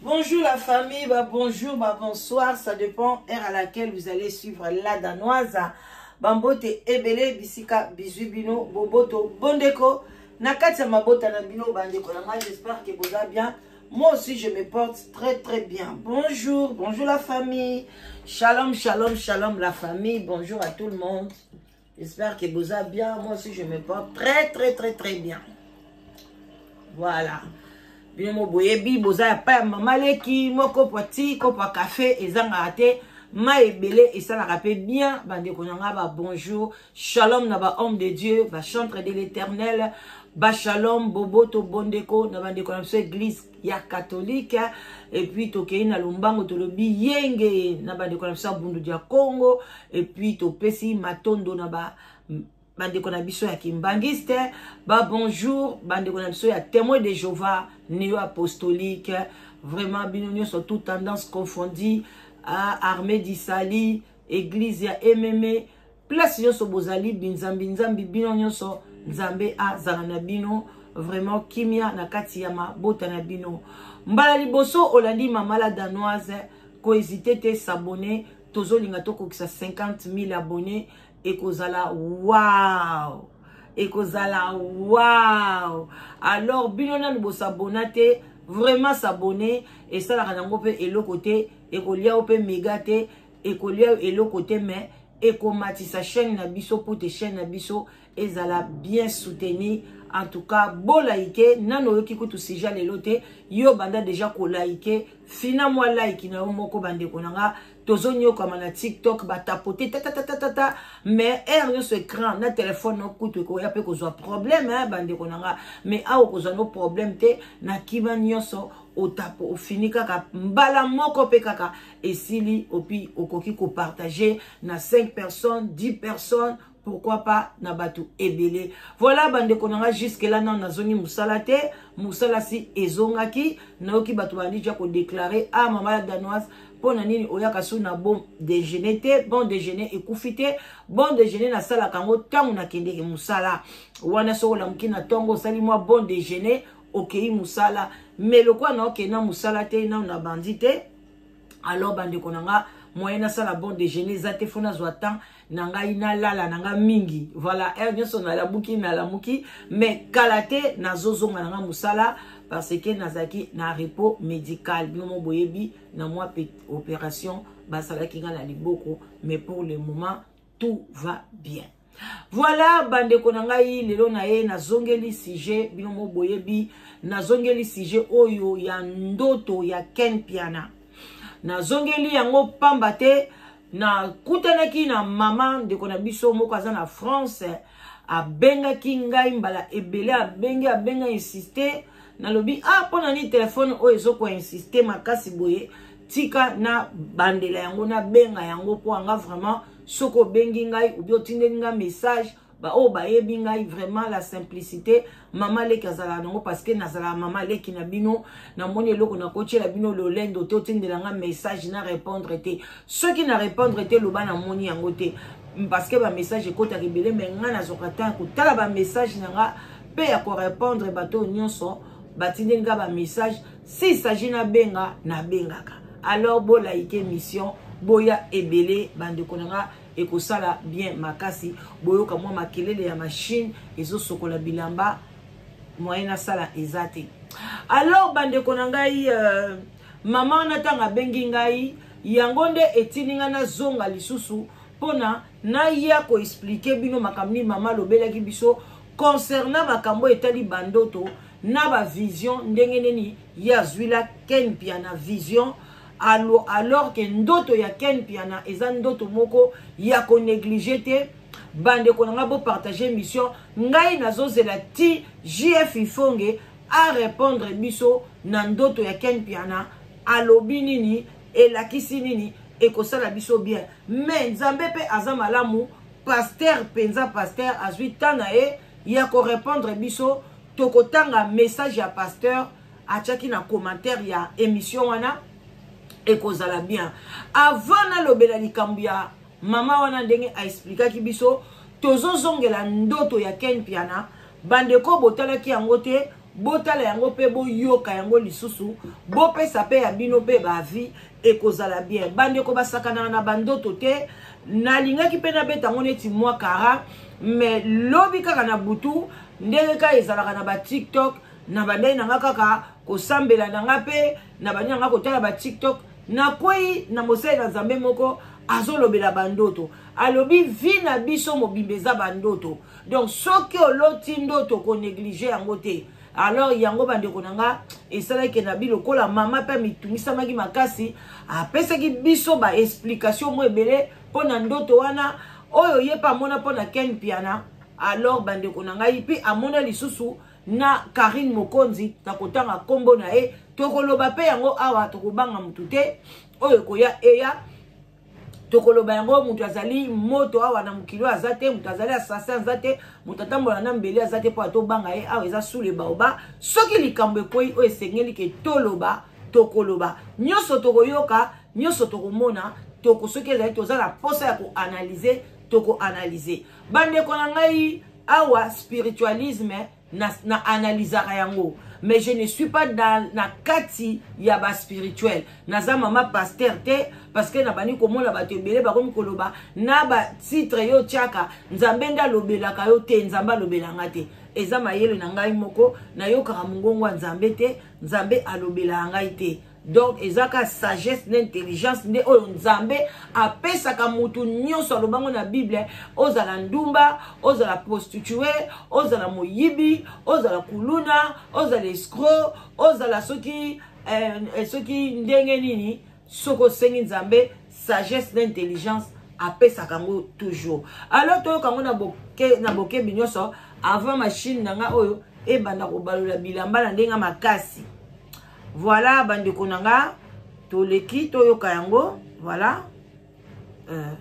Bonjour la famille, bah bonjour, bah bonsoir, ça dépend heure à laquelle vous allez suivre la danoise. Bambote ebele bisika bisous bino boboto bondeko na kati ya mabota na bino bandeko na ngai j'espère que boza bien. Moi aussi je me porte très très bien. Bonjour, bonjour la famille. Shalom, shalom, shalom la famille. Bonjour à tout le monde. J'espère que boza bien. Moi aussi, je me porte très, très, très, très bien. Voilà. bino mo boyebi boza ya pa ya mama leki mo kopo ti kopo ya kafe ezangaka te mai ebele esalaka mpe bien bandeko na ngai babonjour shalom na bahomme de dieu bachantre de l'éternel bashalom boboto bondeko na bandeko na biso église ya katolike epuis tokei na lombango tolobi yenge na bandeko na biso ya bundu dia congo epuis topesi matondo na ba bandeko na biso ya kimbangiste babonjour bandeko na biso ya témoin de jehova neo apostolique vraiment bino nyonso tout tendance confondi armée disali église ya mme place nyonso bozali binzambi nzambi bino nyonso nzambe azala na bino vraiment kimia na kati ya mabota na bino mbala liboso olandi mama la danoise kohésite te s'abonner tozolinga tokokisa 50 000 abonne ekozala wow ekozala wow alors bino nanu bosabona te vraiment s'abonner esalaka nango mpe eloko te ekolia yo mpe mega te ekolia eloko te mais ekomatisa chaîne na biso mpo te chaîne na biso ezala bien soutenu en tout cas bolaike nano oyoki kutu sija lelo te yo banda deja kolaike fina mwa like na yo moko bandeko na nga tozonyokama na tiktok batapote tatatatata mais heure nyonso écran na telefone no kutu ekoya mpe kozwa problème eh, bandeko na nga mais awa okozwa no problème te na kima nyonso otapo ofini kaka mbala moko mpe kaka esili opi okoki ko partager na 5 personnes 10 personnes pourquoi pas na bato ebele voilà bandeko na nga jusque là nano nazongi mosala te mosala si ezongaki nayoki bato bandi ja kodeklare ah mama ya danoise mpo na nini oyaka so na bon déjeuner te bon déjeuner ekufi te bon déjeuner nasalaka yango ntango nakendeke mosala wana soki olamuki na ntongo osali mwa bon déjeuner okei mosala me lokola naokei na mosala te nano nabandi te alors bandeko na nga moyen nasala bon déjeuner eza te fo nazwa temps na ngai nalala na ngai mingi voilà heure nyonso nalamuki nalamuki mais kala te nazozonga na ngai mosala parce que nazalaki na repos médical bino mo boyebi na mwa opération basalaki ngai na liboko mais pour le moment tout va bien voilà bandeko na ngai lelo na ye nazongeli sujet bino mo boyebi nazongeli sujet oyo ya ndoto ya ken piana nazongeli yango pamba te nakutanaki na mama ndeko na biso moko aza na france abengaki ngai mbala ebele abengi abenga insiste nalobi a ah, mpo na nini telefone oyo ezokoinsiste makasi boye tika na bandela yango nabenga yango mpo anga vraiment soki obengi ngai obi otindeli ngai message baoyo bayebi ngai vraiment la simplicité mama leki azalaka nango parce que nazalaka mama leki na bino namoni eloko nakotyela bino lolendo te otindela ngai message na répondre te soki na répondre te loba namoni yango te parce que bamessage ekotaka ebele mai ngai nazwaka ntango kotala bamessage na ngai mpe ya korépondre bato oyo nyonso batindeli ngai bamessage si s'agit nabenga nabengaka alors bolaike mission boya ebele bandeko na nga ekosala bien makasi boyoka mwa makelele ya mashine ezosokola bilamba moyen nasala eza te alors bandeko na ngai euh, mama wana ntango abengi ngai yango nde etindi ngai nazonga lisusu mpona naya koexplike bino makambo nini mama alobelaki biso concernant makambo etali bandoto na ba vision ndenge nini ye azwila ken mpiana vision alo alors ke ndoto ya ken mpiana eza ndoto moko ya koneglige te bandeko na ngai bopartage mission ngai nazozela ti jf ifonge arépondre biso na ndoto ya ken mpiana alobi nini elakisi nini ekosala biso bien mais nzambe mpe aza malamu paster mpenza paster azwi ntan na ye ya ko répondre biso tokotanga message ya pasteur atiaki na commentaire ya émission wana ekozala bien avant nalobela likambo ya mama wana ndenge aexplikaki biso tozozongela ndoto ya ken piana bandeko botalaki yango te botala yango mpe boyoka yango lisusu bopesa mpe ya bino mpe baavi ekozala bien bandeko basakanaka na bandoto te nalingaki mpe nabeta yango neti mwa kara me lobi kaka na butu ndenge kaka ezalaka na batiktok na bandai na nga kaka kosambela na nga mpe na bandai na nga kotala batiktok nakwei na mosali na nzambe moko azolobela bandoto alobi vi na biso mobimba eza bandoto donc soki oloti ndoto koneglige yango te alors yango bandeko na nga esalaki na bi lokola mama mpe mitungisamaki makasi apesaki biso baexplikatio mo ebele mpo na ndoto wana oyo ye mpe amona mpo na ken mpiana alors bandeko na ngai mpe amona lisusu na karine mokonzi na kotanga nkombo na ye tokoloba mpe yango awa tokobanga motu te oyo ekoya eya tokoloba yango moto azali moto awa na mokili oyo aza te moto azali assassin aza te moto atambola na mbeli aza te mpo atobanga ye awa eza sule baoba soki likambo ekwei oyo esengeli ke toloba tokoloba nyonso tokoyoka nyonso tokomona toko soki ezali toza na mposa ya koanalyze tokoanalyze bandeko na ngai awa spiritualisme na, na analysaka yango mais je ne suis pas dans, na kati ya ba spirituel naza mama pasteur te parce que nabandi komona bato ebele bakomi koloba na batitre yo otyaka nzambe nde alobelaka yo te nzambe alobela nga te eza mayele na ngai moko nayokaka mongongo ya nzambe te nzambe alobelaka ngai te donc eza ka sagesse na intelligence nde oyo nzambe apesaka motu nyonso alobango na bible ozala ndumba ozala prostitue ozala moyibi ozala kuluna ozala escro ozala soki eh, eh, soki ndenge nini soki osengi nzambe sagesse na intelligence apesaka yango toujours alors toyoka yango na bokebi na boke nyonso avant machine na nga oyo ebanda kobalola bilamba na ndenge makasi voilà bandeko na nga toleki toyoka yango voilà euh,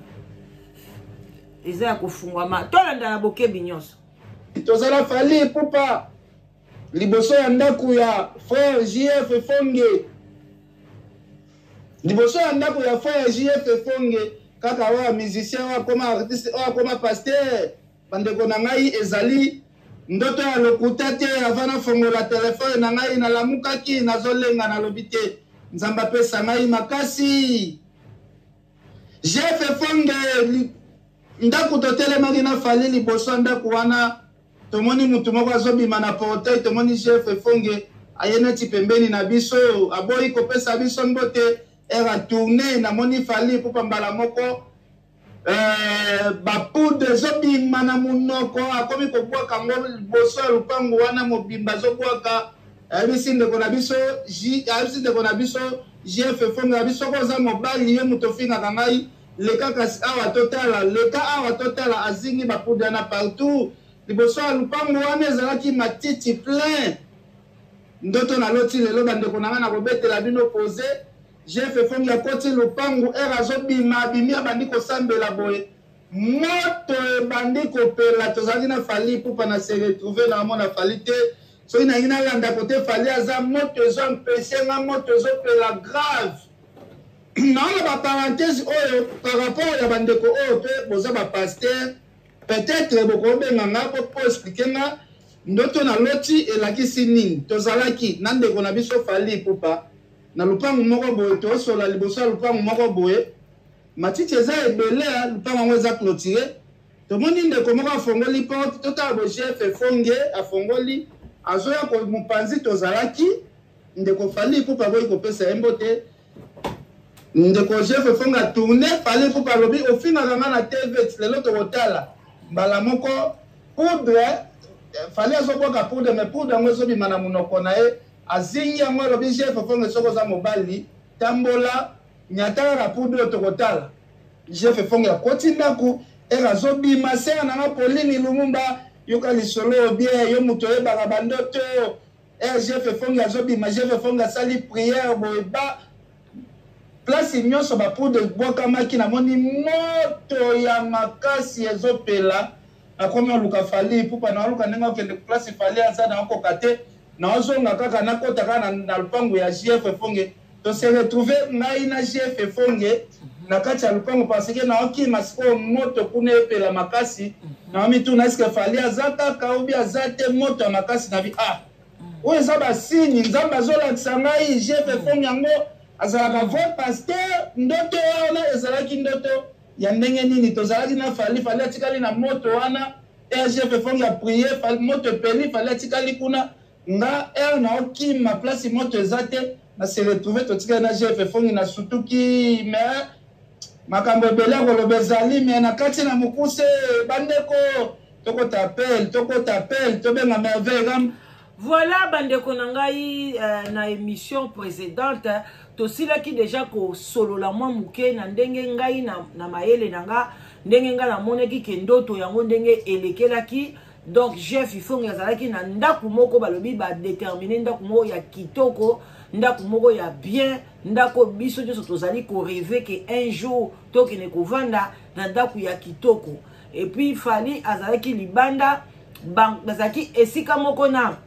eza ya kofungwama tolanda na bokebi nyonso tozala fali pupa liboso ya ndako ya frère jf efonge liboso ya ndako ya frère jf efonge kaka oyo musicien oyo akoma artiste oyo akoma pasteur Bandeko na ngai ezali ndoto ya lokuta te ava nafongola telefone na ngai nalamukaki nazolenga nalobi te nzambe apesa ngai makasi jefe fonge ndako totelemaki na fali liboso ya ndako wana tomoni motu moko azobima na porteuil tomoni jefe fonge aye neti pembeni na biso aboyi kopesa biso mbote era tourne namoni fali pupa mbala moko Eh, bapude ezobima na monoko akomi kobwaka yango liboso ya lopango wana mobimba azobwaka ayebisi ndeko na biso ayebisi ndeko na biso jf efonga ya biso koza mobali ye moto ofingaka ngai leka kasi awa totala leka awa totala azingi bapude wana partout liboso ya lopango wana ezalaki matiti plein ndoto naloti lelo bandeko na ngai nakobetela bino pose Jeff Efongi akoti lopangu heure azobima abimi abandi kosambela boye moto ebandi kopela tozalaki na fali pupa na se retrouve na amona fali te soki nalingi nalanda kote fali aza moto ezo empeshe nga moto ezopela grave naona baparenthese oyo par rapport ya bandeko oyo mpe boza bapaster peut-être bokobenga nga po po explike nga ndoto na loti elakisi nini tozalaki na ndeko na biso fali pupa na lupangu moko boye tosola liboso ya lupangu moko boye matiti eza ebele lupangu yango eza clotire tomoni ndeko moko afongoli porte totala bo gf efonge afongoli azoya mopanzi tozalaki ndeko fali ipupa boyi kopesa ye mbote ndeko gf efonge atourne fali ipupa alobi ofingaka nga na tv lelo tokotala mbala moko poudre fali azobwaka poudre me poudre yango ezobima na monoko na ye Azingi yango alobi je fefonge soki oza mobali tambola nyata kaka pour bio tokotala. Je fefonge akoti ndako ere azobima sere na nga Pauline Lumumba yoka lisolo bien yo moto oyebaka bandoto ere je fefonge azobima je fefonge asali priere boye ba place nyonso bapoudre ebwakamaki namoni moto ya makasi ezopela nakomi oluka fali pupa naoluka ndenge okende place fali aza naokoka te Nazonga kaka nakota kaka na, na lupangu ya JF Fonge. To se retrouver ngai na JF Fonge na kati ya lupangu parce que naokima sikoyo moto kuna epela makasi. Naomituna eske Fally aza kaka obi aza te moto ya makasi na bi ah oyo eza basini nzambe azolakisa ngai JF Fonge yango azalaka vrai pasteur ndoto wana ezalaki ndoto ya ndenge nini tozalaki na fali fali atikali na moto wana rgf efong ya prier moto epeli fali atikali kuna nga r na okima place moto eza te na se retrouve totikali na gf efongi na sutuki me makambo ebele ya koloba ezali me na kati na mokuse bandeko tokota apel tokota apel tobenga merveille Voilà bandeko na ngai euh, na émission précédente tosilaki déjà kosolola mwa moke na ndenge ngai na, na mayele na nga ndenge ngai namonaki ke ndoto yango ndenge elekelaki donc jeff ifongi azalaki na ndako moko balobi badetermine ndako moko ya kitoko ndako moko ya bien ndako biso nyonso tozali koreve ke un jour tokende kovanda na ndako ya kitoko et puis fally azalaki libanda bazalaki esika moko na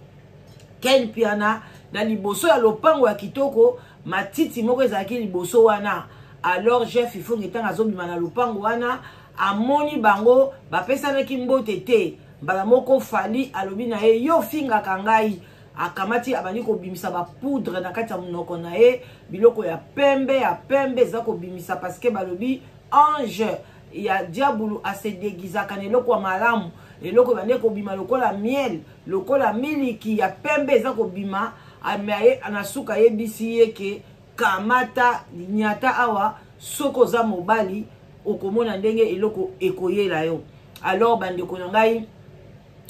ken piana na liboso ya lopango ya kitoko matiti moko ezalaki liboso wana alors jeff ifonge ntango azobima na lopango wana amoni bango bapesanaki mbote te mbala moko fali alobi na ye yo ofingaka ngai akamati abandi kobimisa bapoudre na kati ya monoko na ye biloko ya pembe ya pembe eza kobimisa parceke balobi ange ya diabulu asedegizaka na eloko ya malamu eloko ebande kobima lokola miel lokola miliki ya pembe eza kobima amaye na suka ayebisi ye ke kamata nyata awa soki oza mobali okomona ndenge eloko ekoyela yo alors bandeko na ngai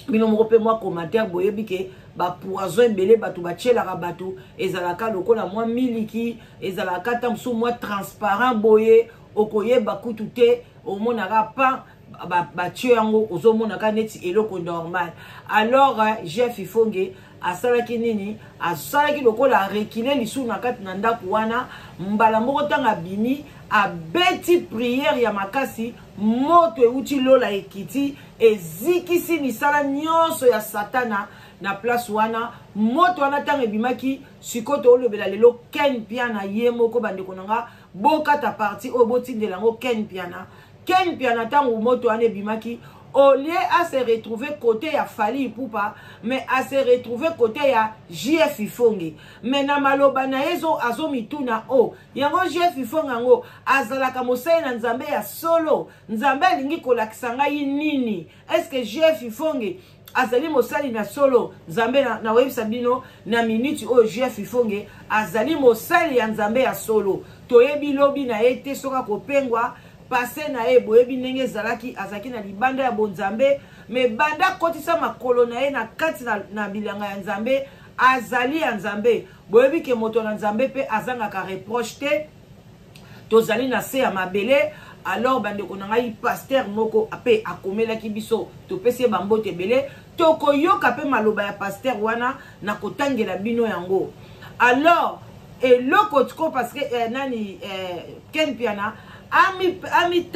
bino moko mpe mwa commentaire boyebi ke bapoison ebele bato batyelaka bato ezalaka lokola mwa miliki ezalaka ata mosusu mwa transparent boye okoyeba kutu te omonaka pa batye yango ozomonaka neti eloko normal alors euh, jeff ifonge asalaki nini asalaki lokola arekile lisusu na kati na ndako wana mbala moko ntango abimi abeti priere ya makasi moto euti lola ekiti ezikisi misala nyonso ya satana na place wana moto wana ntango ebimaki sikoyo toolobela lelo ken piana ye moko bandeko na nga bokata parti oyo botindela yango ken piana ken piana ntango moto wana ebimaki au lieu a se retrouver côté ya fali ipupa mais a se retrouver côté ya jf ifonge mais na maloba na ye azomituna o oh, yango jef ifonga yango azalaka mosali na nzambe ya solo nzambe alingi kolakisa ngai nini estce jef ifonge azali mosali na solo nzambe nakoyebisa na bino na miniti oyo jef ifonge azali mosali ya nzambe ya solo toyebi lobi na ye te soki akopengwa pase na ye boyebi ndenge ezalaki azalaki na libanda ya bonzambe me banda akotisa makolo na ye na kati na, na bilanga ya nzambe azali ya nzambe boyebi ke moto na nzambe mpe azangaka reproche te tozali na se ya mabele alors bandeko na ngai paster moko mpe akomelaki biso topesi ye bambote ebele tokoyoka mpe maloba ya paster wana na kotangela bino yango alors eloko tiko parce que eh, nani eh, ken piana amitala ami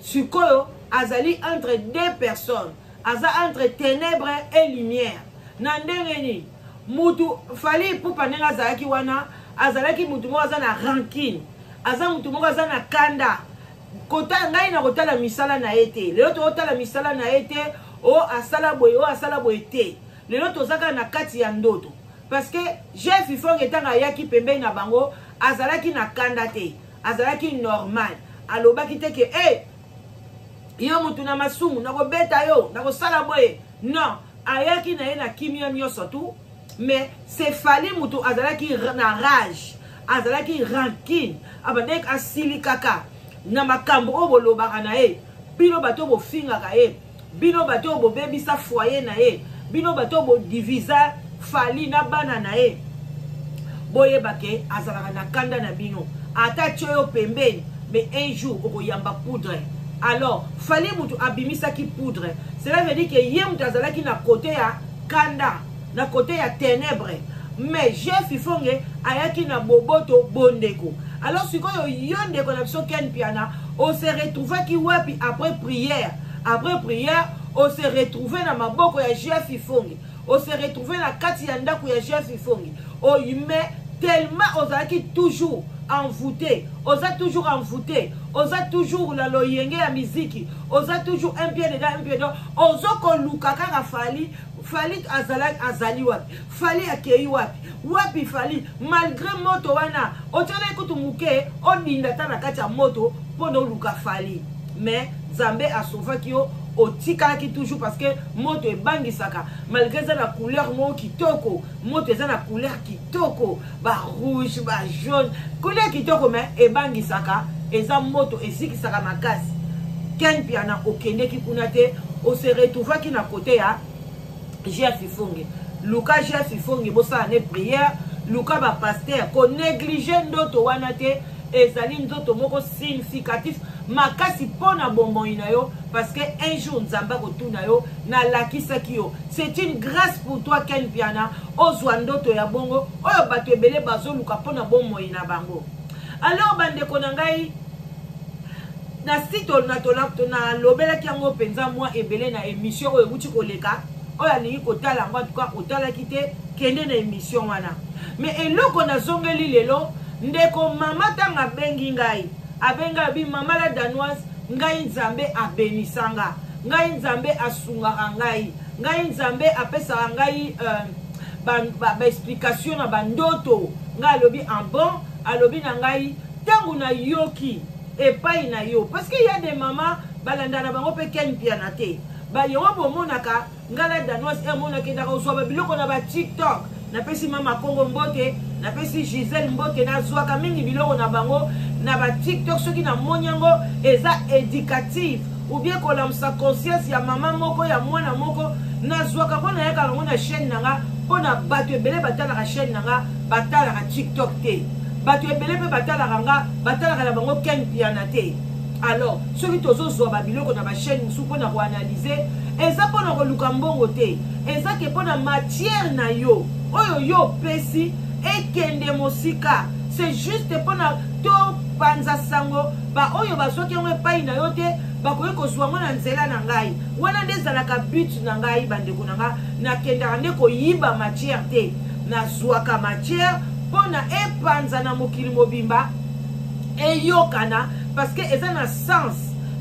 sikoyo azali entre deux personnes aza entre ténèbre et lumière na ndenge nini mutu fali ipupa ndenge azalaki wana azalaki mutu moko aza na rankine aza mutu moko aza na kanda kota ngai na kotala misala na ye te lelo tokotala misala na ye te o oh, asala boye o oh, asala boye te lelo toza kaka na kati ya ndoto parce que jeff ifong ntango ayaki pembeni na bango azalaki na kanda te azalaki normal alobaki te ke e hey, yo motu na masumu nakobeta yo nakosala boye non ayaki na ye na kimia nyonso tu mais sefali motu azalaki na rage azalaki rankine abandaki asilikaka na makambo oyo bolobaka na ye bino bato bofingaka ye bino bato oyo bobebisa foyer na ye bino bato oyo bodivisa fali na bana na ye boyeba ke azalaka na kanda na bino ata atye yo pembeni mais un jour okoyamba poudre alors fali motu abimisaki poudre cela veut dire ke ye motu azalaki na kote ya kanda na kote ya tenebre mais jef ifonge ayaki na boboto bondeko alors sikoyo yo ndeko na biso ken piana ose retrouvaki wapi après prière après prière ose retrouve na maboko ya jef ifonge ose retrouve na kati ya ndako ya jef ifonge oyime tellement ozalaki toujours envoûté oza toujours envoûté oza toujours na loyenge ya miziki oza toujours un pied dedans un pied dedans ozokoluka kaka fali fali azala azali wapi fali akei wapi wapi fali malgré moto wana otyolaki kutu moke odinda ata na kati ya moto mpo na oluka fali mais nzambe asauvaki yo otikalaki toujours parce que moto ebangisaka malgré eza na couleur moko kitoko moto eza na couleur kitoko kitoko ba rouge ba jaune couleur kitoko mais ebangisaka eza moto ezikisaka makasi ken mpiana okendeki kuna te ose retrouvaki na kote ya jeff ifonge luka jeff ifonge bosala ne prière luka bapaster konéglige ndoto wana te ezali nzoto moko significatif makasi mpo na bomoi na yo parce que un jour nzambe akotuna yo nalakisaki yo c'est une grâce pour toi ken piana ozwa ndoto ya bongo oyo bato ebele bazoluka mpo na bomoi na bango alors bandeko na ngai na site nalobelaki yango mpenza mwa ebele na émission oyo ewuti koleka oyo alingi kotala yango antuka otalaki te kende na émission wana me eloko nazongeli lelo ndeko mama ntango abengi ngai abenga bi mama la danoise ngai nzambe abenisanga ngai nzambe asungaka ngai ngai nzambe apesaka ngai euh, baexplication ba, ba na bandoto ngai alobi en ah bon alobi na ngai ntango nayoki epai na yo parce que ya de mama balanda na bango mpe ken mpiana te bayewa bomonaka ngai na danoise emonaki endaka ozwa babiloko na batiktok napesi mama kongo mbote napesi gisele mbote nazwaka mingi biloko na bango na batiktok soki namoni yango eza éducative oubien kolamusa conscience ya mama moko ya mwana moko nazwaka yango nayaka yango na chaîne na nga mpo na bato ebele batalaka chaîne na nga batalaka tiktok te bato ebele mpe batalaka nga batalaka na bango ken piana te alors soki tozozwa babiloko na bachaîne mosusu mpo na koanalyse eza mpo na koluka mbongo te eza ke mpo na matière na yo oyo yo opesi ekende mosika c'est juste mpo na topanza sango baoyo bazwaki yango epai na yo te bakoki kozwa yango na nzela na ngai wana nde ezalaka but na ngai bandeko na ngai nakendaka nde koyiba matière te nazwaka matière mpo na epanza na mokili mobimba eyokana parce que eza na sens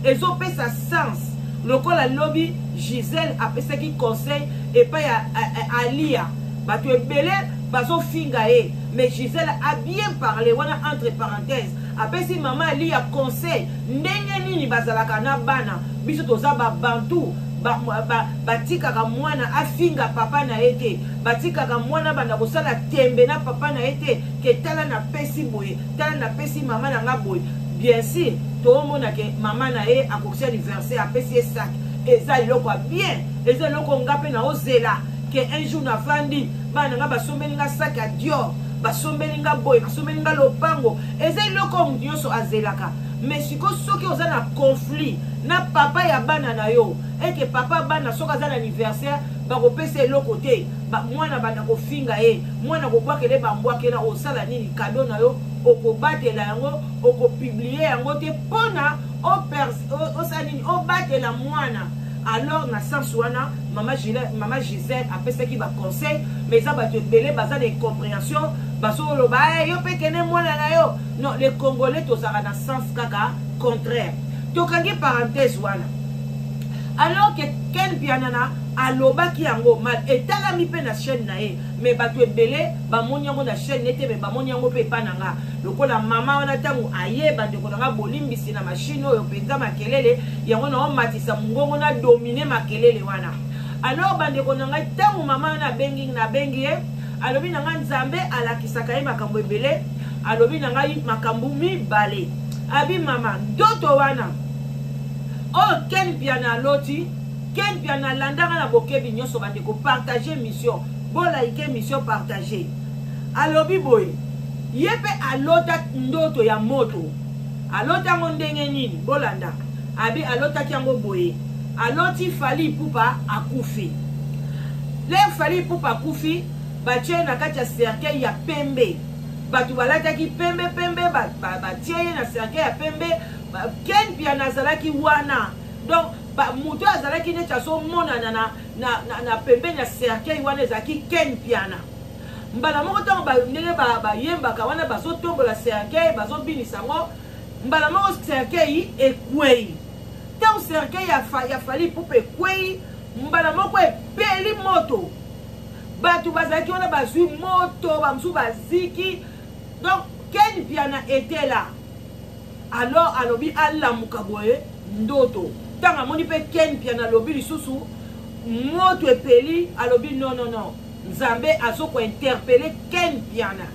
ezopesa sens lokola lobi gisele apesaki conseil epai ya alia bato ebele bazofinga ye mais gisele a bien parle wana entre parenthèse apesi mama aliya conseil ndenge nini bazalaka na bana biso toza babantu batikaka ba, ba mwana afinga papa na ye te batikaka mwana banda kosala tembe na papa na ye te ke tala napesi boye tala napesi mama na nga boye bien sur toomona ke mama na ye akokisi anniversaire apesi ye sac eza eloko ya bien eza eloko nga mpe naozela ke un jour navandi bana na nga basombeli nga sac ya dior basombeli nga boye basombeli nga lopango eza eloko moto nyonso azelaka me siko soki oza na conflit na papa ya bana na yo eke papa bana soki aza na anniversaire bakopesa eloko te ba mwana banda kofinga ye mwana kobwakele bambwakela osala nini kado na yo okobatela yango okopiblie yango te mpona osala nini obatela mwana alors na sens wana mama, mama gisele apesaki baconseil mais eza bato ebele baza na incomprehension bazoloba hey, eh, yo mpe kende mwana na yo non le congolais tozalaka na sens kaka contraire tokangi parenthèse wana alors que ken pianana alobaki yango mal etalami mpe na chaîne na ye me bato ebele bamoni yango na chaîne ne te me bamoni yango mpe epa na nga lokola mama wana ntango aye bandeko na nga bolimbisi na mashine oyo mpenza makelele yango na omatisa mongongo na domine makelele wana alors bandeko na ngai ntango mama wana abengi nabengi ye alobi na ngai nzambe alakisaka ye makambo ebele alobi na ngai makambo mibale abi mama ndoto wana oyo oh, ken piana aloti Ken Mpiana alandaka na bokebi nyonso bandeko partage mission bolaike mission partage alobi boye ye mpe alota ndoto ya moto aloti yango ndenge nini bolanda abi alotaki yango boye aloti fali ipupa akufi le fali ipupa akufi batie na kati ya cercueil ya pembe bato balataki pembe pembe batie ye na cercueil ya pembe ken piana azalaki wana donc moto oyo azalaki neti azomonana na, na, na, na pembeni ya cercueil wana ezalaki ken piana mbala moko ntango ndenge bayembaka wana bazotombola cercueil bazobinisa yango mbala moko cercueil ekwei ntango cercueil ya fali pupa ekwei mbala moko epeli moto bato bazalaki wana bazwi moto bamosusu baziki donc ken piana etela alors alobi alamuka boye ndoto ntango amoni mpe ken mpiana alobi lisusu moto epeli alobi non non non nzambe azokointerpele ken mpiana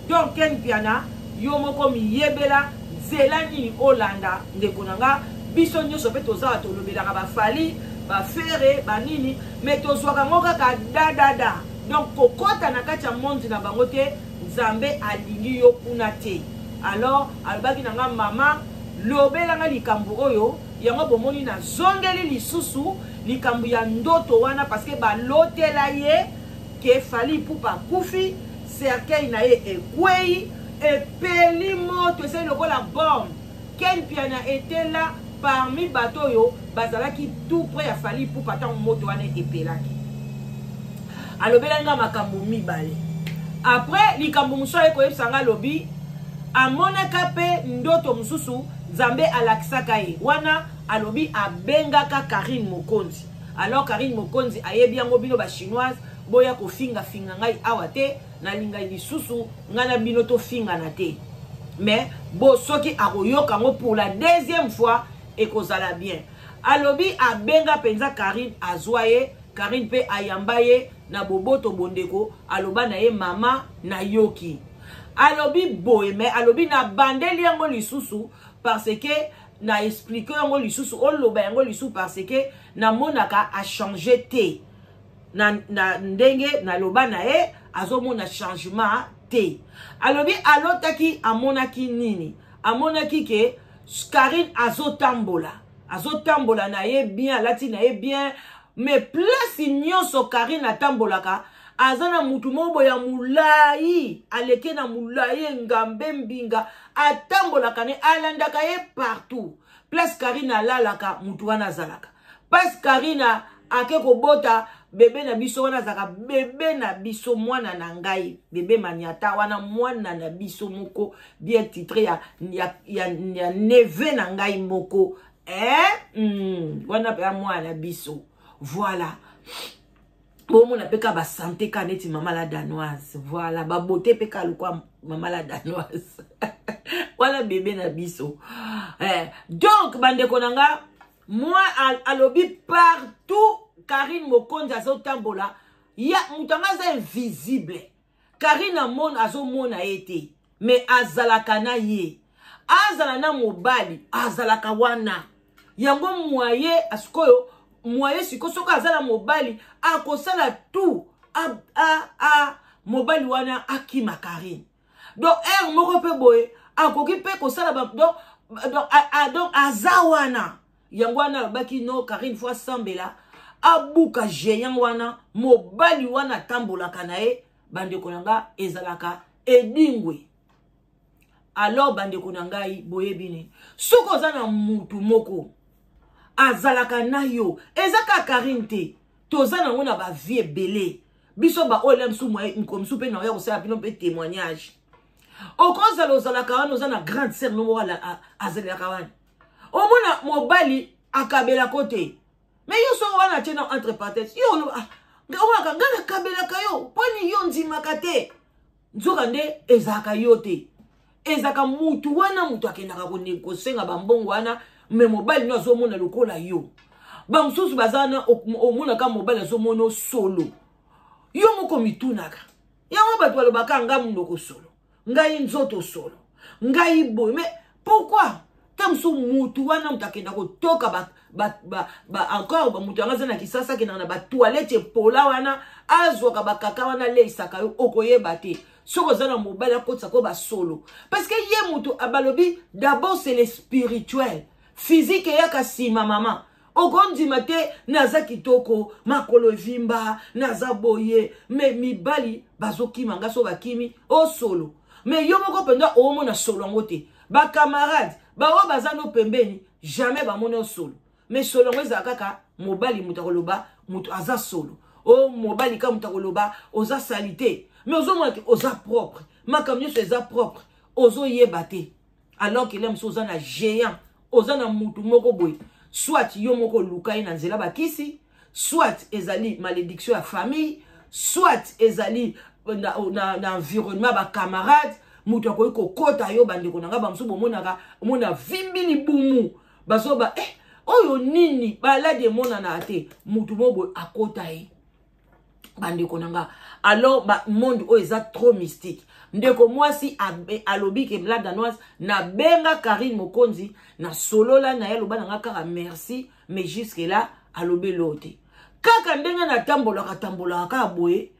donc ken mpiana yo moko miyebela nzela nini olanda ndeko na nga biso nyonso mpe tozala tolobelaka bafali bafere banini me tozwaka yango kaka dadada donc kokɔta na kati ya mondi na bango te nzambe alingi yo kuna te alors alobaki na nga mama lobela nga likambo oyo yango bomoni nazongeli lisusu likambo ya ndoto wana parceke balotela ye ke fali ipupa akufi cercueil na ye ekwei epeli moto ezali lokola bombe Ken Mpiana était là parmi bato oyo bazalaki tout près ya Fally Ipupa ntango moto wana epelaki alobelaki nga makambo mibale après likambo mosusu aye koyebisa nga alobi amonaka mpe ndoto mosusu nzambe alakisaka ye wana alobi abengaka karine mokonzi alors karine mokonzi ayebi yango bino bachinoise boya kofingafinga ngai awa te nalingaki lisusu ngai na bino tofingana te mais bo soki akoyoka yango pour la deuxième fois ekozala bien alobi abenga mpenza karine azwa ye karine mpe ayamba ye na boboto bondeko aloba na ye mama nayoki alobi boye me alobi nabandeli yango lisusu parce que na explike yango lisusu oloba yango lisusu parce que namonaka achange te na, na ndenge naloba na ye azomona changement te alobi alotaki amonaki nini amonaki ke karine azotambola azotambola na ye bien alati na ye bien me place nyonso karine atambolaka aza na mutu moko boye ya molai aleke na molai engambe mbinga atambolaka ne alandaka ye partout place karine alalaka mutu wana azalaka pasi karina ake kobota bebe na biso wana azalaka bebe na biso mwana na ngai bebe maniata wana mwana na biso moko bien titre ya, ya, ya, ya neve na ngai moko eh? mm, wana mpenza mwana na biso voilà bomona mpe ka basante ka neti mama la danoise voilà babote mpe ka lokwa mama la danoise wana bebe na biso eh, donc bandeko na nga moi alobi partout karine mokonzi azotambola ya moto yango aza invisible karine amona azomona ye te me azalaka na ye azala na mobali azalaka wana yango mwaye sikoyo mwaye sikoyo soki aza na mobali akosala tout a, a, a, mobali wana akima karine donc heure moko mpe boye akoki mpe kosala donc donc aza wana yango wana alobaki no karine fo asambela abuka géant wana mobali wana atambolaka na ye bandeko na nga ezalaka edingwe alors bandeko na ngai boyebi nini soki oza na mutu moko azalaka na yo eza kaka karine te toza nango na ba vie ebele biso baoyo na biso mokolo mosusu mpe naoya kosala bino mpe témoignage okozala ozalaka wana oza na grande sere no moko azalelaka wana omona mobali akabelako te me yo soko wana atie na entre parenthèse yo oloba ah, nga nakabelaka yo mponi yo ondimaka te nzoka nde ezalaka yo te ezalaka mutu wana moto akendaka kosenga bambongo wana me mobali no azomona lokola yo bamosusu baza wana omonaka mobali azomona solo yo moko mitunaka yango bato balobaka nga monoko solo ngai nzoto solo ngai boye pourquoi ntango so motu wana moto akenda kotoka ba, ba, ba, ba, encore moto yango aza na kisasa akendaka na batoilette epola wana azwaka bakaka wana aleisaka yo okoyeba te soki oza na mobali akotisa ko basolo parce que ye moto abalobi d'abord c'est le spirituel physique eyaka nsima mama okondima te naza kitoko makolo evimba naza boye me mibali bazokima nga so bakimi osolo oh, me yo moko mpenza omona solo yango te bakamarade baoyo baza no pembeni jamais bamoni osolo me solo yango ezala kaka mobali moto akoloba moto aza solo o oh, mobali ka moto akoloba oza salite me ozomona te oza propre makambo nyonso eza propre ozoyeba te alors que lem so oza na géant oza na mutu moko boye soit yo moko oluka ye na nzela bakisi soit ezali malédiction ya famille soit ezali euh, na, euh, na, na environnement ya bacamarade moto akoki kokota yo bandeko na ngai bamosusu bomonaka omona vimbi libumu bazoba eh, oyo nini baladi emonanaka te moto moko boye akota ye bandeko na nga alors ba monde oyo eza trop mystique ndeko mwasi alobi ke la danoise nabenga karine mokonzi nasolola na ye aloba na nga kaka merci mais jusque là alobi eloo te kaka ndenge natambolaka tambolaka kaka boye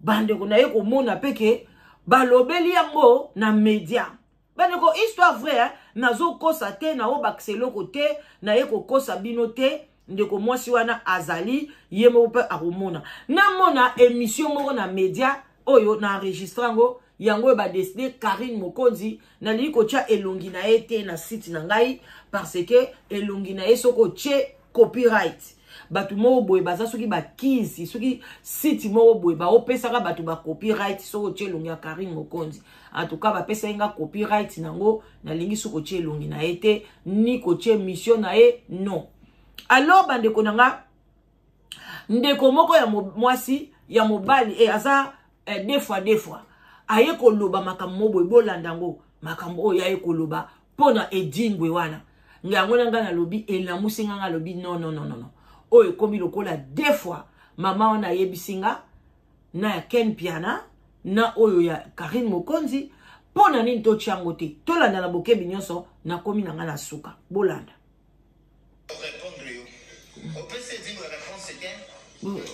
bandeko na ye komona mpe ke balobeli yango na media bandeko histoire vrai hein? nazokosa te naobakisa eloko te naye kokosa bino te ndeko mwasi wana azali ye moko mpe akomona namona émission moko na média oyo na enregistre yango yango oyo badeside karine mokonzi nalingi kotya elongi na ye te na site na ngai parce que elongi na ye soki otye copyright bato moko boye baza soki bakizi soki site moko boye baopesaka bato bacopyright soki otye elongi ya karine mokonzi antuka bapesaki nga copyright nango nalingi soki otye elongi na ye te ni kotye mission na ye non alors bandeko na nga ndeko moko ya mwasi ya mobali e aza eh, de fois de fois aye koloba makambo mo boye bolanda yango makambo oyo aye koloba mpo na edingwe wana nga yango na ngai nalobi elamusi ngai ngai alobi non non non non oyo ekomi lokola deux fois mama wana ayebisi nga na ya ken piana na oyo ya karine mokonzi mpo na nini totya yango te tolanda na bokebi nyonso nakomi na ngai na suka bolanda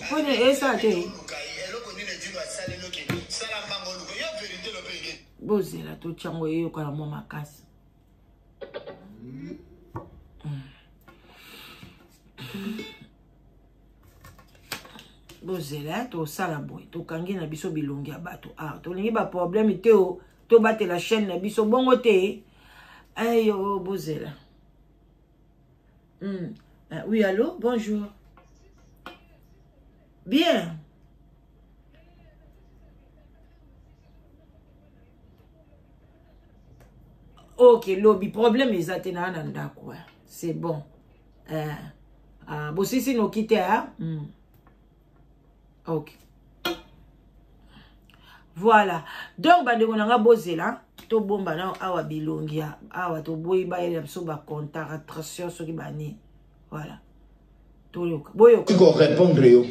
pone esa te bozela totyango eyokana mwa makasi bozela tosala boye tokangi na biso bilongi ya bato awa ah, tolingi baproblème te o tobatela chaîne na biso bongo te ayo bozela Hmm. Ah, oui, allô, bonjour. Bien. ok lobi problème eza te naa na ndako eh. c'est bon eh. ah, bosisi noki te ah? mm. ok voilà donc bandeko na nga bozela tobomba nao awa bilongi ya awa toboyi bayela biso bacontaratration soki bani voilà toyoka boyoka korépondre yo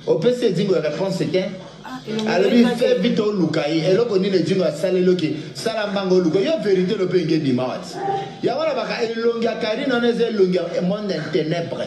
opesi edingo ya réponse te ah, alobi fe vite oluka ye eloko nini edingo asaleli oke sala mbanga oluka yo vérité lope enge ebima wati yango na baka elongi ya karine wana eza elongi ya monde ya ténèbre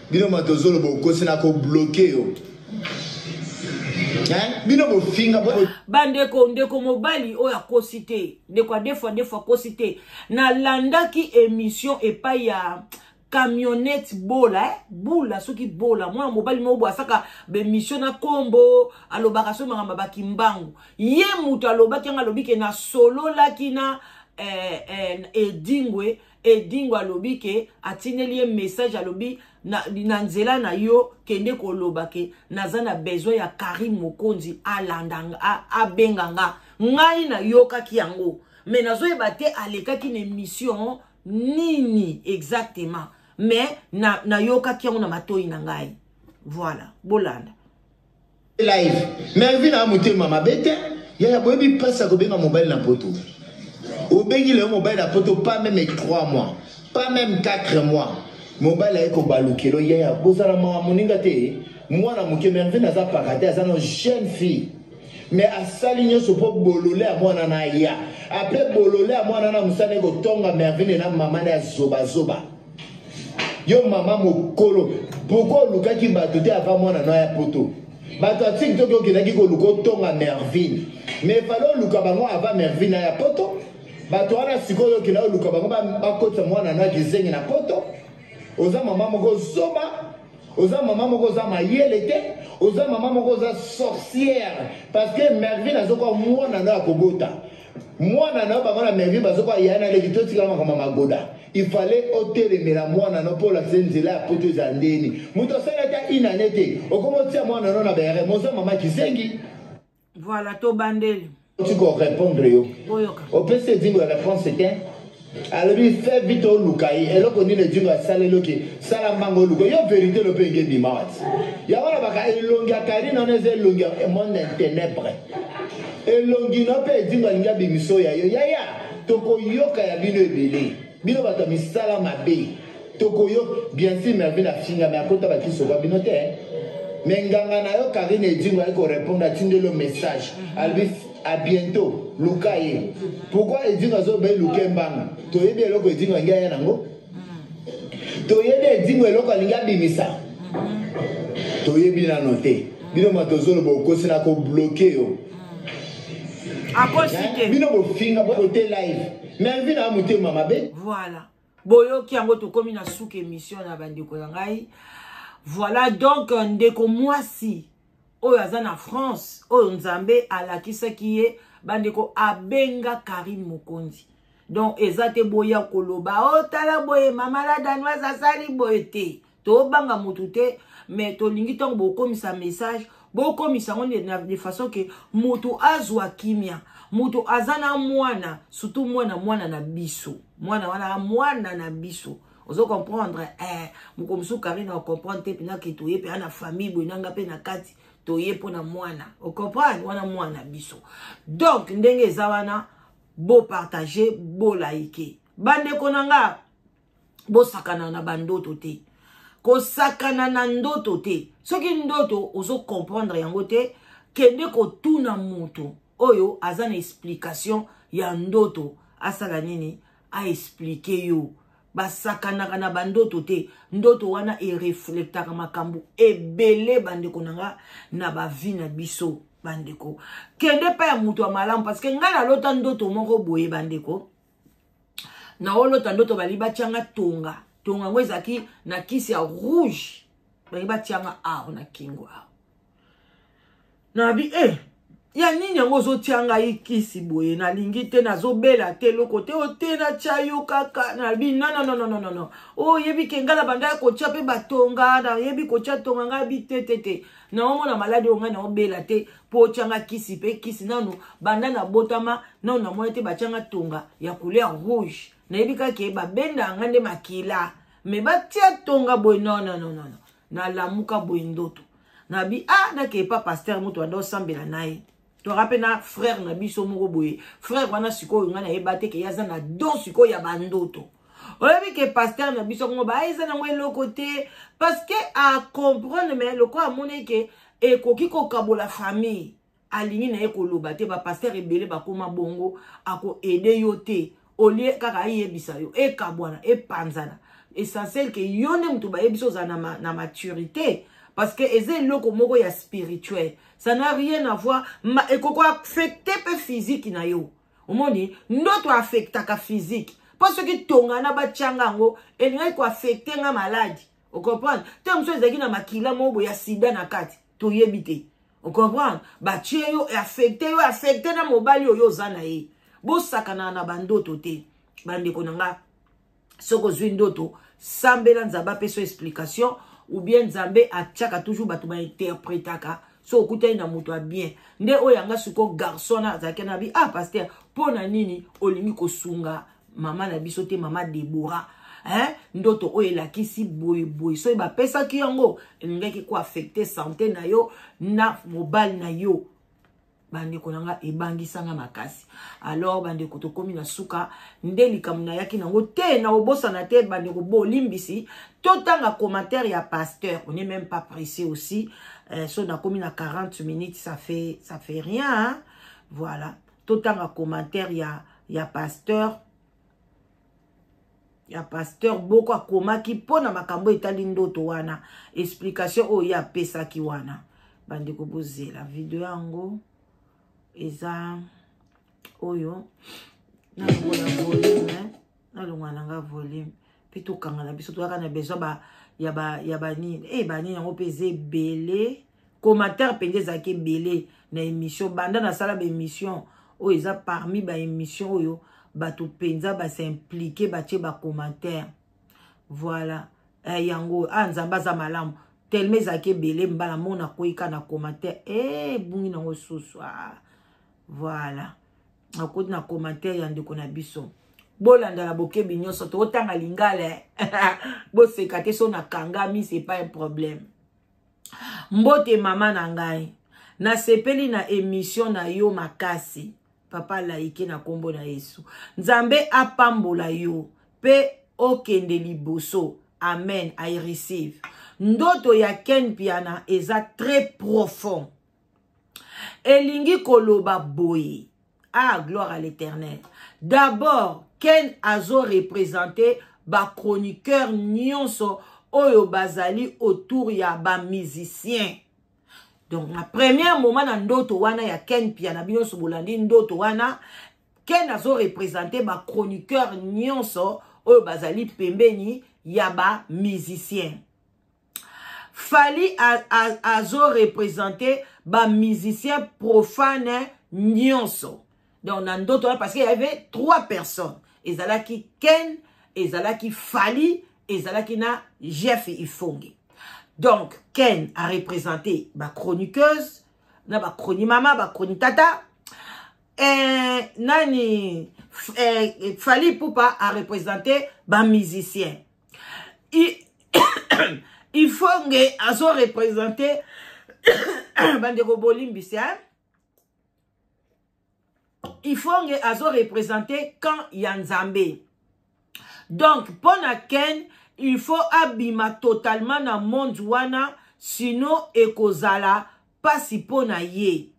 bino bato ozoloba okosi na kobloke yo bino bofinga bandeko ndeko mobali oyo akosi te ndeko adefua defua akosi te nalandaki émission epai ya camionnette bola eh? bula soki bola mwana mobali moko boye asaka bemission na nkombo alobaka so makambo ya bakimbangu ye moto alobaki yango alobi ke nasololaki na eh, eh, edingwe edingo alobi ke atindeli ye message alobi na, na nzela na yo kende koloba ke naza na besoin ya karine mokonzi alanda abenga nga ngai nayokaki yango me nazoyeba te alekaki na émission nini exactement me nayokaki na yango na matoi na ngai voilà bolanda live melvin a motema mabe te yaya boyebi mpasi ya kobenga mobali na poto obengi leo mobali na poto pas meme 3 mois pas meme 4 mois mobali aye kobalukelo yaya bozala mawa moninga te mwana moke mervine aza paka te aza na jeune fille me asali nyonso mpo bolole ya mwana na ya apres bolole ya mwana na mosala ekotonga mervine na mama na ya zobazoba yo mama mokolo pourkoi olukaki bato te ava mwana no ya poto bato ya tiki toki okendaki koluka otonga mervine mais fale oluka bango ava mervine aya poto bato wana sikoyo okenda oluka bango bakotisa mwana no ya kizengi na poto oza mama moko zoba oza mama moko oza mayele te oza mama moko oza sorcière parce que mervine azokoka mwana no ya kobota mwana na yo bango na mervi bazokoa ya na leki totikala makambo magoda il fallait otelemela mwana no mpo olakisa nzela ya poto eza ndeni moto asali ata inane te okoma otia mwana no na bere moza mama kisengi voilà tobandeli otika orépondre yo opesi edingo ya réponse te alobi fe vite oluka ye eloko nini edingo asala eloki sala mbanga oluka yo verité lope enge bima wati yango na baka elongi ya karine wana eza elongi ya monde intenebre elongi na mpe edingo alingi abimiso ya yo yaya tokoyoka ya bino ebele bino bato ya misala mabe tokoyoka bien sûr mervine afingami akota bakisoka bino te me nganga na yo karine edingo ayaki korepondre atindeli yo message alobi A bientôt luka ye. Pourquoi Edingo azo bayi luke mbanga? Toyebi eloko Edingo angia ya nango. Toyebi Edingo eloko alingi abimisa. Toyebi nano te. Bino matozolo bokosi na ko bloquer yo. Akosi te. Bino bofinga bokote live. Melvin a motema mabe. Voilà. boyoki yango tokomi na suka émission na bandeko na ngai voilà donc euh, ndeko mwasi oyo aza na france oyo nzambe alakisaki ye bandeko abenga karine mokonzi donc eza te boya koloba otala oh, boye mama la danoise asali boye te tobanga motu te mais tolingi ntango bokomisa message bokomisa yango de façon ke motu azwa kimia motu aza na mwana surtout mwana mwana na biso mwana wana mwana na biso ozo comprendre eh, mokolo mosusu karine acomprendre te mpena ke toye mpe ana famille boye nanga mpe na kati toye mpo na mwana ocomprendre wana mwana biso donc ndenge eza wana bopartage bolaike bandeko na nga bosakana na bandoto te kosakana na ndoto te soki ndoto ozo comprendre yango te kende kotuna moto oyo aza na explication ya ndoto asala nini aexplike yo basakanaka na bandoto te ndoto wana ereflektaka makambo ebele bandeko na nga na bavi na biso bandeko kende pa ya moto ya malamu parce que ngai nalota ndoto moko boye bandeko naolota ndoto balingi batyanga tonga tonga yango ezalaki na kisi ya rouge balingi batyanga awa na kingo awa nabi e eh, ya nini yango ozotya ngai kisi boye nalingi te nazobela te eloko te o te natya yo kaka nabi nononononnono oyebi oh, ke ngai na banda ya kotya mpe batonga nayebi kotya tonga ngai bi te te te naomona maladi oyo ngai naobela te mpo otyanga kisi mpe kisi nanu banda na botama nanu namoni te batyanga tonga ya couleur rouge nayebi kake babenda yanga nde makila me batya tonga boye nonnononono nalamuka boye ndoto nabi a ah, nakeye pa paster moto banda osambela na ye toka mpe na frere na biso moko boye frere wana sikoyo ngai nayeba te ke ye aza na don sikoyo ya bandoto oyebi ke pasteur na biso yango baya eza nango eloko te parce que acomprendre mais lokola amoni ke ekoki kokabola famille alingi na ye koloba te bapasteur ebele bakoma bongo akoede yo te olie kaka ayebisa yo ekabwana epanzana essentiel ke yo nde moto bayebisi ozala na, ma, na maturité parce que eza eloko moko ya spirituel ça n'a rien à voir ekoki koaffecte mpe physique na yo omoni ndoto affectaka physique mpo soki tongana batyanga yango elingaki koaffecte nga maladi ocomprendre te mosusu ezalaki na makila moko boye ya sida na kati toyebi te ocomprendre batye yo affecte yo affecte na mobali oyo oza na ye bosakanaka na bandoto te bandeko na nga soki ozwi ndoto sambela nzambe apesa explication ou bien nzambe atiaka toujours bato bainterpretaka so okutani na moto ya bien nde oyo yanga siko garçon na azalaki na bi ah paster mpo na nini olingi kosunga mama na biso te mama debora hein? ndoto oyo elakisi boyeboye soki bapesaki yango elingaki koaffecte sante na yo na mobali na yo bandeko na nga ebangisa nga makasi alors bandeko tokomi na suka nde likambo nayaki nango te na obosana te bandeko bolimbisi totanga commentaire ya pasteur on est même pas pressé aussi euh, so nakomi na 40 minutes ça fait ça fait rien hein? voilà totanga commentaire ya ya pasteur ya pasteur boko akomaki mpo na makambo etali ndoto wana explication oyo ye apesaki wana bandeko bozela video yango eza oyo nalongola volume nalongola na nga volume mpe tokanga na biso toyaka na besoin ba, ya banini e eh, banini yango mpe eza ebele commentaire mpenza ezalaki ebele na émission banda nasala baémission oyo eza parmi baémission oyo bato mpenza basimplike batie bacommentaire voilà eh, yango oyo ah nzambe aza malamu telema ezalaki ebele mbala moko nakoyika na commentaire eh, ebungi nango susu ah, voilà nakoti na commentaire ya ndeko na biso bolandala bokebi nyonso tokotanga lingala eh. boseka te so nakangami c'est pas un problème mbote mama na ngai nasepeli na emission na yo makasi papa laike na nkombo na yesu nzambe apambola yo mpe okende liboso amen i receive ndoto ya ken piana eza très profond elingi koloba boye ah gloire à l'éternel d'abord ken azo représente bachroniqueur nyonso oyo bazali autour ya bamusicien donc na premier moment na ndoto wana ya ken pia na bino nyonso bolandi ndoto wana ken azo représente bachroniqueur nyonso oyo bazali pembeni ya bamusicien fali azo represente ba musicien profane nyonso donc na ndoto wana parce que y avait trois personnes ezalaki ken ezalaki fali ezalaki na jeff ifonge donc ken a represente ba chroniqueuse na ba chroni mama ba chroni tata eh, nani eh, fali pupa a represente ba musicien ifonge azo represente bandeko bolimbisi hein? ifonge azo represente camp ya nzambe donc mpo na ken il faut abima totalement na monde wana sino ekozala mpasi mpo na ye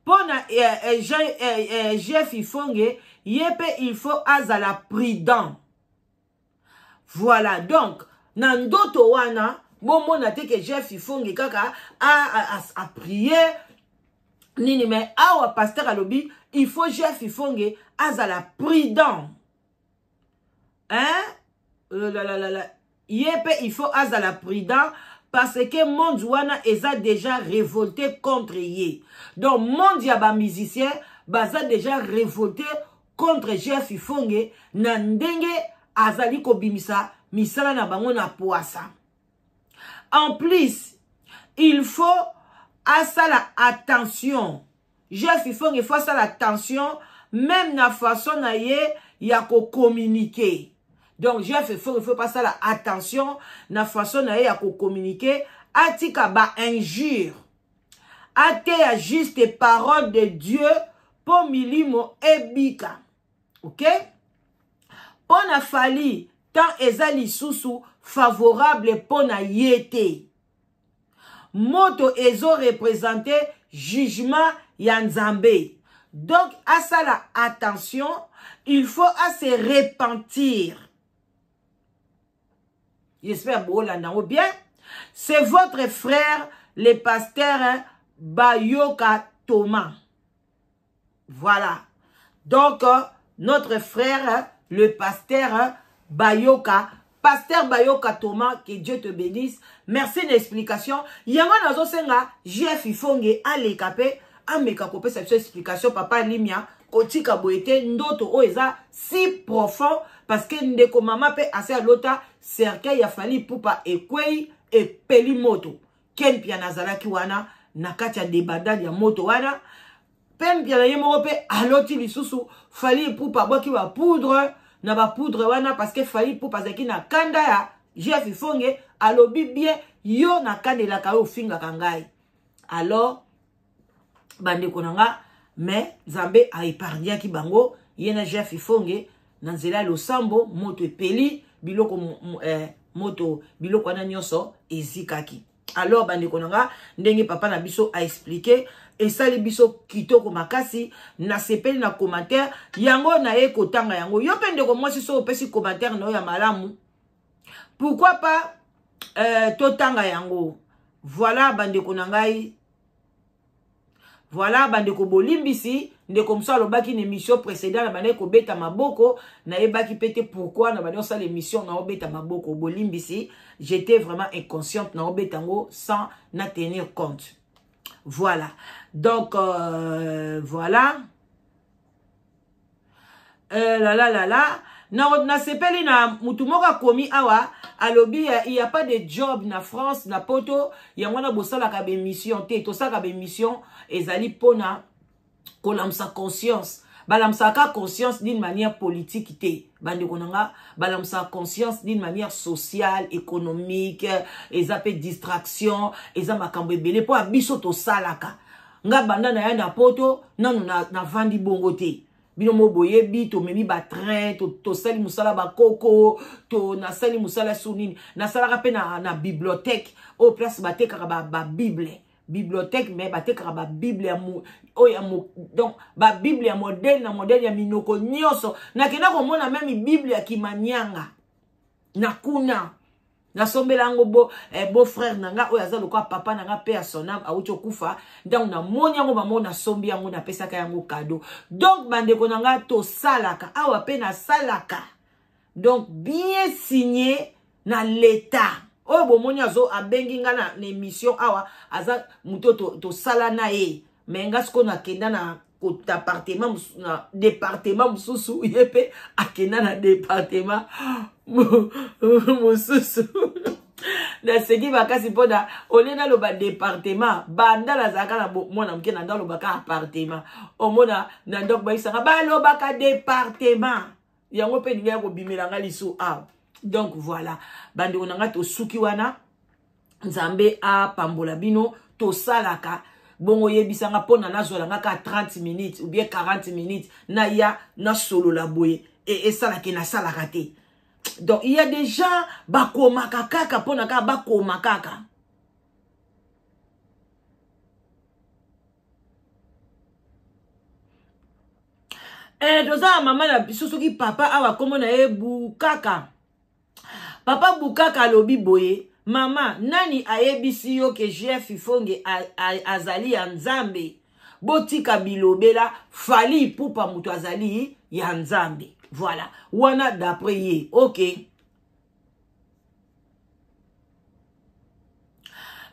mpo na eh, eh, jeff eh, eh, eh ifonge ye mpe il faut azala prudent voilà donc na ndoto wana bomona te ke jeff ifonge kaka aprie nini me awa pasteur alobi il faut jeff ifonge azala prudent hein euh, la, la, la, la. ye mpe il faut azala prudent parce que monde wana eza déjà révolté contre ye donc monde ya bamusicien baza déjà révolté contre GF Ifonge na ndenge azali kobimisa misala na bango na poasa. En plus, il faut asala attention. GF Ifonge, il faut asala attention même na façon na ye ya kocommuniquer. Donc GF Ifonge, il faut pas asala attention na façon na ye ya kocommuniquer. Atika ba injures. ateya juste parole de dieu mpo milimo ebika ok mpo na fali temps eza lisusu favorable mpo na ye te moto ezo represente jugement ya nzambe donc asala attention il faut ase repentir j'espère boolanda yango bien c'est votre frère le pasteur hein, bayoka thomas voilà donc euh, notre frère hein, le pasteur hein, bayoka pasteur bayoka thomas que dieu te bénisse merci na explication yango nazosenga jf ifonge aleka mpe ameka kopesa biso explication papa limia kotika boye te ndoto oyo eza si profond parce que ndeko mama mpe asi alota cercueil ya fali pupa ekwei epeli moto ken mpiana azalaki wana na kati ya debandade ya moto wana mpe mpiana ye moko mpe aloti lisusu fali pupa abwaki bapoudre na bapoudre wana parce que fali pupa azalaki na kanda ya jeff ifonge alobi bien yo nakanelaka yo ofingaka ngai alors bandeko na nga mais nzambe aepargnaki bango ye na jeff ifonge na nzela ya losambo moto epeli biloko eh, moto biloko wana nyonso ezikaki alors bandeko na nga ndenge papa na biso aexplike esali biso kitoko makasi nasepeli na commentaire yango naye kotanga yango yo mpe ndeko mwasi so opesi commentaire na yo ya malamu pourquoi pas euh, totanga yango voilà bandeko na ngai voilà bandeko bolimbisi ndeko mosusu alobaki na émission précédent nabandaki kobeta maboko nayebaki mpe te pourquoi nabandaki kosala émission naobeta maboko bolimbisi j'étais vraiment inconsciente naobeta yango sans na tenir compte voilà donc euh, voilà euh, lala lala nasepeli na, na motu moko akomi awa alobi euh, il ya pas de job na france na poto yango wana bosalaka bemission te tosalaka bemission ezali mpona kolamusa conscience balamusaka conscience d'une manière politique te bandeko na nga balamusaka conscience d'une manière sociale économique eza mpe distraction eza makambo ebele mpo ya biso tosalaka nga banda na ya na poto nanu navandi na bongo te bino mo boyebi tomemi batrain tosali to mosala bakoko to nasali mosala sur nini nasalaka mpe na, na bibliothèque oyo place batekaka babible ba bibliothèque mais batekaka babible ya oyo ya donc babible ya modele na modele ya minoko nyonso nakenda komona meme bible ya kimanianga na kuna nasombela yango bo, eh, bo frère na nga oyo aza lokola papa na nga mpe ya sonam awuti okufa ntango namoni yango mamo nasombi yango napesaka yango kado donc bandeko na nga tosalaka awa mpe nasalaka donc bien signe na leta oyo bomoni azo abengi nga na, na émission awa aza moto tosala to na ye me nga sikoyo nakenda na kotapartema na departema mosusu ye mpe akenda na departema mosusu naseki makasi mpo na olie naloba departema banda nazalaka na mwana moke na ndalobaka apartema omona na ndako bayisaka balobaka departema yango mpe elingi ya kobimela nga lisu awa donc voilà bandeko na nga tosuki wana nzambe apambola bino tosalaka bongo oyebisa nga mpo na nazwala nga ka 30 minutes ou bien 40 minutes naya nasolola boye e, esalaka e, nasalaka te donc il y a des gens bakomaka kaka mpo na kaka bakoma kaka eh, toza ya mama na biso soki papa awa nkombo na ye bukaka papa bukaka alobi boye mama nani ayebisi yo ke jf ifonge azali ya nzambe botika bilobela fali ipupa moto azali ya nzambe voilà wana d'après ye okay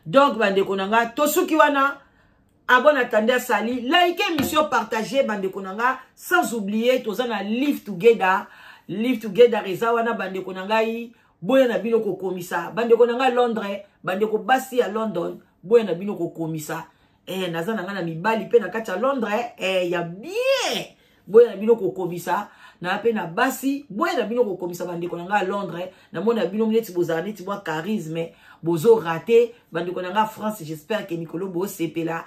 donc bandeko na nga tosuki wana abon atandi asali like émission partage bandeko na nga sans oublier toza na live together live together eza wana bandeko na ngai boya na bino kokomisa bandeko na ngai londres bandeko basi ya london boya na bino kokomisa eh, naza na ngai na mibali mpe na kati ya londres eh, ya bien boya na bino kokomisa na mpe na basi boya na bino kokomisa bandeko na ngai ya londres namona bino neti bozala neti mwa charisme bozo rate bandeko na ngai france j'espère ke mikolo bosepela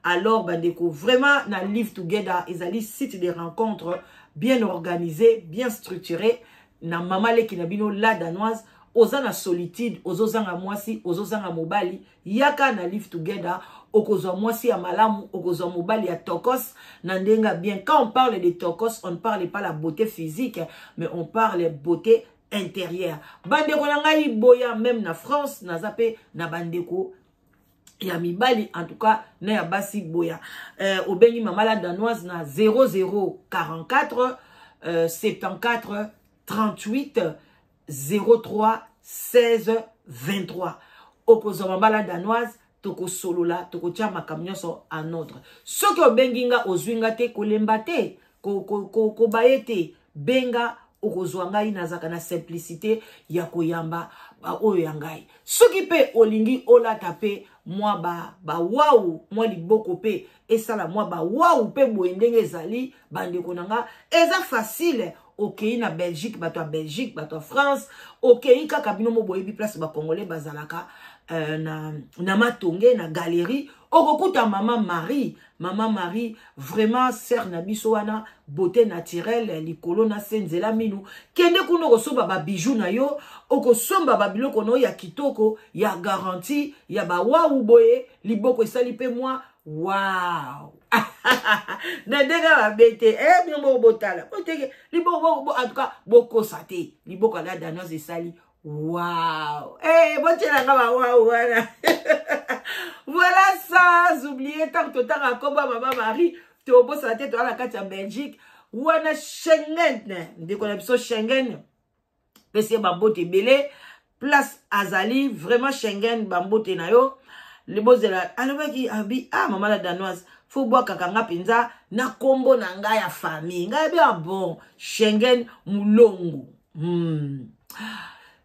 alors bandeko vraiment na live together ezali site de rencontre bien organisé bien structuré na mama leki na bino la danoise oza na solitude ozozanga mwasi ozozanga mobali yaka na live together okozwa mwasi ya malamu okozwa mobali ya tokos na ndenge bien quand on parle de tokos on ne parle pas la beauté physique mais on parle beauté intérieure bandeko na ngai boya même na france naza mpe na bandeko ya mibali en tout cas na ya basi boya euh, obengi mama la danoise na 0044 euh, 74 38 03 16 23 okozwa mabala danoise tokosolola tokotia makambo nyonso en ordre soki obengi nga ozwi nga te kolemba te kobaye ko, ko, ko te benga okozwa ngai nazalaka na simplicité ya koyamba baoyo ya ngai soki mpe olingi olata mpe mwa bawau ba mwa liboko mpe esala mwa bawau mpe boye ndenge ezali bandeko na nga eza facile okei na belgique bato ya belgique bato ya france okei kaka bino mo boyebi place bacongolais bazalaka euh, na, na matonge na galerie okokuta mama marie mama marie vraiment sere na biso wana beauté naturelle likolo na se nzela minu kende kuna okosomba babijou na yo okosomba babiloko na yo ya kitoko ya garanti ya bawawu boye liboko esali mpe mwa wow na ndenge mabe te e eh, bino moko botala boteke liboko en tout cas bokosa te liboko ya la danoise esali Waouh Eh, bon, tu la là waouh, voilà. voilà ça, oublié, tant que tu as combat, maman Marie, tu es au boss à la tête, tu as la carte en Belgique. Wana Schengen, dès qu'on a besoin Schengen, pesi ye bambote ebele place azali vraiment schengen bambote na yo libozela alobaki abi ah mama la danoise fo bwakaka nga mpenza na nkombo na ngai ya famille ngai abi ah bon schengen mulongo hmm.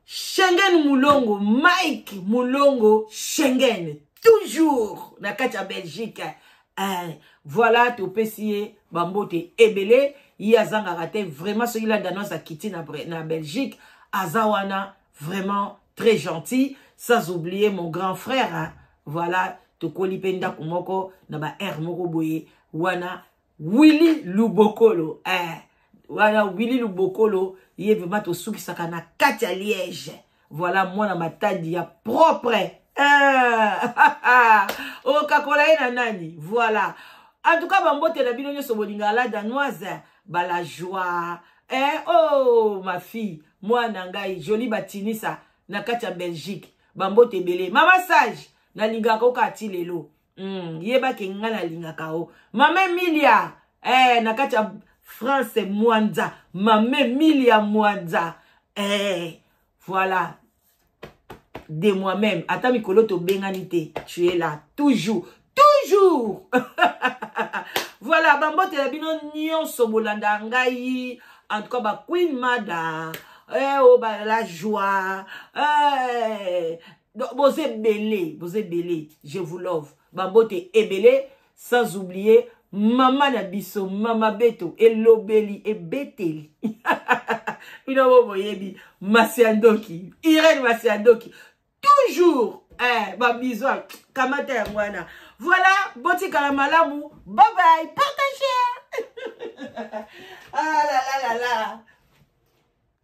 schengen mulongo mike mulongo schengen toujours na kati ya belgique eh, voilà topesi ye bambote ebele ye azangaka te vraiment soki la danoise akiti na, na belgique aza wana vraiment très gentil sans oublier mon grand frère hein? voilà tokoli mpe ndako moko na ba aire moko boye wana willi lubokolo eh, wana willi lubokolo ye vraimen tosukisaka na kati ya liège voilà mwana matadi ya propre ah, okakola ye na nani voilà en tout cas bambote na bino nyonso bolinga la danoise bala joie eh, oh ma fille mwana ngai joli batinisa na kati ya belgique bambote ebele mama sage nalingaka oka ti lelo mm, yeba ke nga nalingaka o mama emilia eh, na kati ya france mwanza mama emilia mwanza eh, voilà de moi-même ata mikolo tobengani te tu es là toujours toujours voilà bambotela bino nyonso bolanda ngai en tout cas baqueen mada eh, oh, ba, la joie eh, boza ebele boza ebele je vous love babote ebele sans oublier mama na biso mama beto elobeli ebeteli bino bo boyebi masi ya ndoki irene masi ya ndoki toujours eh, babizo kamata yango wana voilà botikala malamu babai partage ah, la, la, la, la.